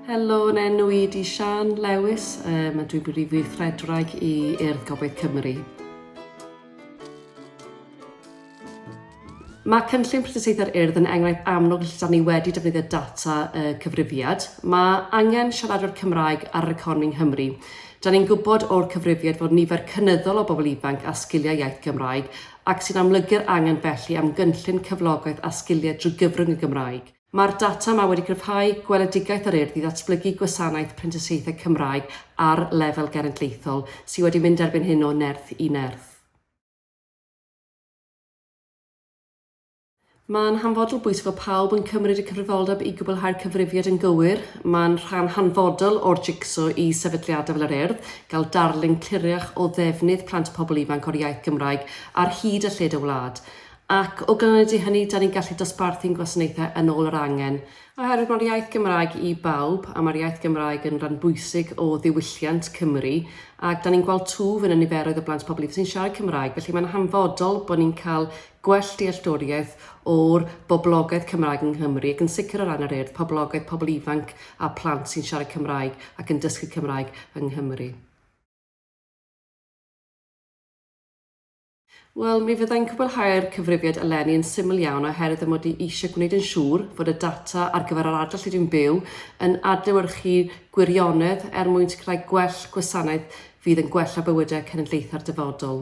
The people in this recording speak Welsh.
Helo, yn enw i di Sian Lewis, um, a dwi'n brif weithredraig i Urdd Gobaith Cymru. Mae cynllun prioriteiddau'r urdd yn enghraifft amlwg lle da ni wedi defnyddio data y cyfrifiad. Mae angen siaradwyr Cymraeg ar yr economi yng Nghymru. Da ni'n gwybod o'r cyfrifiad fod nifer cynyddol o bobl ifanc a sgiliau iaith Gymraeg ac sy'n amlygu'r angen felly am gynllun cyflogaeth a sgiliau drwy gyfrwng y Gymraeg. Mae'r data yma wedi cryfhau gweledigaeth yr Urdd i ddatblygu gwasanaeth prentisiaethau Cymraeg ar lefel genedlaethol, sydd wedi mynd erbyn hyn o nerth i nerth. Mae'n hanfodol bwysig fod pawb yn cymryd y cyfrifoldeb i gwblhau'r cyfrifiad yn gywir. Mae'n rhan hanfodol o'r jig-so i sefydliadau fel yr Urdd gael darlun cliriach o ddefnydd plant a phobl ifanc o'r iaith Gymraeg ar hyd a lled y wlad. Ac o ganlyniad i hynny, dan ni'n gallu dosbarthu'n gwasanaethau yn ôl yr angen. Oherwydd mae'r iaith Gymraeg i bawb, a mae'r iaith Gymraeg yn rhan bwysig o ddiwylliant Cymru, ac dan ni'n gweld twf yn y niferoedd o blant pobl ifanc sy'n siarad Cymraeg, felly mae'n hanfodol bod ni'n cael gwell dealltwriaeth o'r boblogaeth Cymraeg yng Nghymru, ac yn sicr o ran yr Urdd, poblogaeth pobl ifanc a phlant sy'n siarad Cymraeg ac yn dysgu Cymraeg yng Nghymru. Wel, mi fydda i'n cwblhau'r cyfrifiad eleni yn syml iawn oherwydd fy mod i eisiau gwneud yn siŵr fod y data ar gyfer yr ardal lle dwi'n byw yn adlewyrchu gwirionedd er mwyn sicrhau gwell gwasanaeth fydd yn gwella bywydau cenedlaethau'r dyfodol.